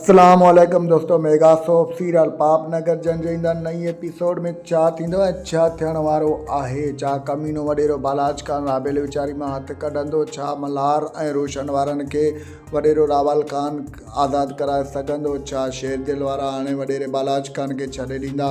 اسلام عليڪم دوستو ميگا سوپ سيريل پاپ نگر جنهن جي ايندڙ نئين ايپيسوڊ ۾ ڇا ٿيندو ۽ ڇا ٿيڻ وارو آهي ڇا ڪمينو وڏيرو بالاچ خان رابيل ويچاري مان هٿ ڪڍندو ڇا ملهار ۽ روشن وارن کي وڏيرو راوال خان آزاد ڪرائي سگهندو ڇا شير دل وارا هاڻي وڏيري بالاچ خان کي ڇڏي ڏيندا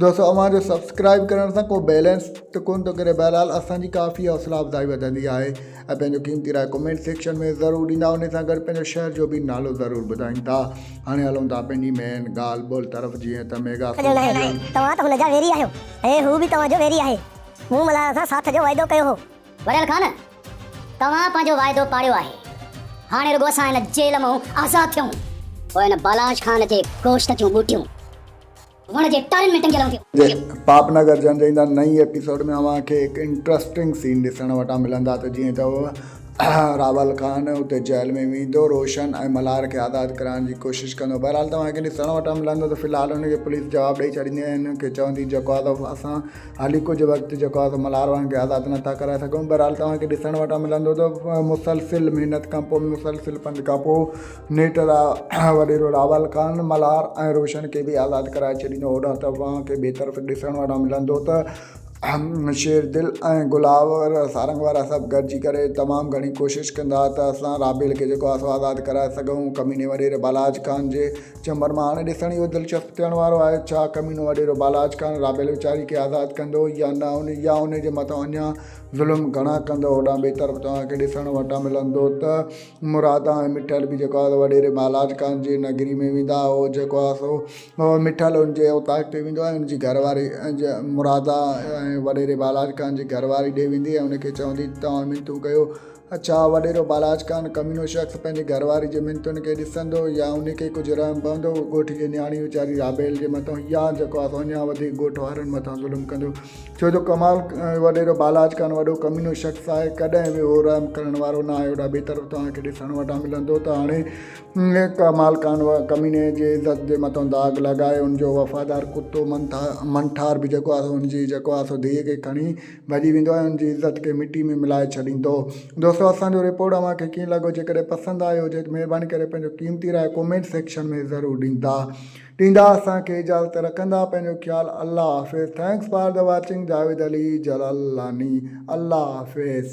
دوستو اوهان جو سبسڪرائب ڪرڻ سان ڪو بيلنس ته ڪونه ٿو ڪري بهرحال اسانجي ڪافي حوصلا افزائي وڌندي آهي ۽ پنهنجو قيمتي راء ڪمينٽ سيڪشن ۾ ضرور ڏيندا ان سان گڏ پنهنجو شهر جو به نالو ضرور ٻڌائين ٿا هاڻي هلون ٿا پنهنجي مين ڳالهه ٻولهه طرف جيئن ته ميگا سو ناهي ناهي توهان ته هن جا ويري آهيو ۽ هو به توهان جو ويري آهي مون ملهار سان ساٿ جو واعدو ڪيو هو. وريل خان توهان پنهنجو واعدو پاڙيو آهي هاڻي رڳو اسان هن جيل مئون آزاد ٿيون پوء هن بالاش خان جي گوشت جون ٻوٽيون. وڻ جي ٽارين ۾ ٽنگيل هونديون هيون. پاپ نگر جنهن جي هن نئين ايپيسوڊ ۾ اوهان کي هڪ انٽرسٽنگ سين ڏسڻ وٽان ملندا ته جيئن ته راول خان اتي جيل ۾ ويندو روشن ۽ ملهار کي آزاد ڪرائڻ جي ڪوشش ڪندو بهرحال توهان کي ڏسڻ وٽان ملندو ته في الحال هن کي پوليس جواب ڏئي ڇڏيندي ۽ هن کي چوندي جيڪو آهي سو اسان هلي ڪجهه وقت جيڪو آهي سو ملهار وارن کي آزاد نه ٿا ڪرائي سگهون بهرحال توهان کي ڏسڻ وٽان ملندو ته مسلسل محنت کان پوء مسلسل پنڌ کان پوء نيٺ وڏيرو راول خان، ملهار ۽ روشن کي به آزاد ڪرائي ڇڏيندو. هوڏانهن ته اوهان کي ٻئي طرف ڏسڻ وٽان ملندو ته شير دل ۽ گلاب سارنگ وارا سڀ گڏجي ڪري تمام گهڻي ڪوشش ڪندا ته اسان راڀيل کي جيڪو آسو آزاد ڪرائي سگهون. ڪميني وڏيري بالاچ خان جي چنبن مان هاڻي ڏسڻ اهو دلچسپ ٿيڻ وارو آهي ڇا ڪمينو وڏيرو بالاچ خان راڀيل ويچاري کي آزاد ڪندو يا نه يا ان جي مٿان اڃان ظلم گهڻا ڪندو. هوڏانهن ٻئي طرف توهان کي ڏسڻ وٽان ملندو ته. مرادان ۽ مٺل به جيڪو آهي سو وڏيري مهالاج ڪانت جي نگري ۾ ويندا هو جيڪو آهي سو مٺل ان جي اوطاق تي ويندو آهي ان جي گهر واري مرادا ۽ وڏيري مهالاج ڪانت جي گهر واري ڏي ويندي ۽ ان کي چوندي ته توهان منٿون ڪيو ڇا وڏيرو مهالاج ڪانت ڪمينو شخص پنهنجي گهر واري جي منٿن کي ڏسندو يا ان کي ڪجهه رحم پوندو ڳوٺ جي نياڻي ويچاري رابيل جي مٿان يا جيڪو آهي سو اڃان وڌيڪ ڳوٺ وارن مٿان ظلم ڪندو ڇو جو ڪمال وڏيرو بالاچ کان وڏو ڪمينو شخص آهي ڪڏهن به اهو رحم ڪرڻ وارو نه آهي هوڏا بهتر توهان کي ڏسڻ وٽان ملندو ته هاڻي ڪمال کان ڪميني جي عزت جي مٿان داغ لڳائي ان جو وفادار ڪتو منٺار به جيڪو آهي ان جي جيڪو آهي سو ڌيء کي کڻي ڀڄي ويندو ۽ ان جي عزت کي مٽي ۾ ملائي ڇڏيندو دوستو اسان جو رپورٽ اوهان کي ڪيئن لڳو جيڪڏهن پسند آيو هجي ته مهرباني ڪري پنهنجو قيمتي راء ڪومينٽ سيڪشن ۾ ضرور ڏيندا ڏيندا اسان کي اجازت رکندا پنهنجو خيال الله حافظ thanks for the watching Javed Ali Jalalani الله حافظ.